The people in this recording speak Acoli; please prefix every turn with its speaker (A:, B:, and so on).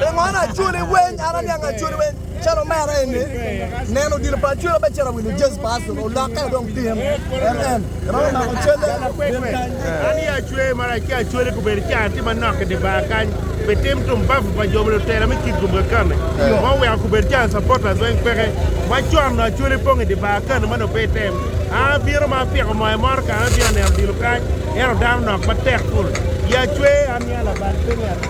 A: Pingo acwali weng? An aniang acwali weng calo omera eni. Neno odilo pa acwali obe ciro wilo jezi pa Arsenal olokke wa dong tin. MN, Iromo mako calle? An i acwee mara ci acwali kubedo ca atye manok i di bar kany pi tim tumbavu pa jo ma lutera me kit gumga kame ma oweko kubedo ca supporters weng peke. Ma con-nu acwali pong i di bar kano ma nongo pe item. An abino ma apiko moya moro kare abino aneno odilo kany ento dano nok matek ful. I acwee aniang labal pe ni.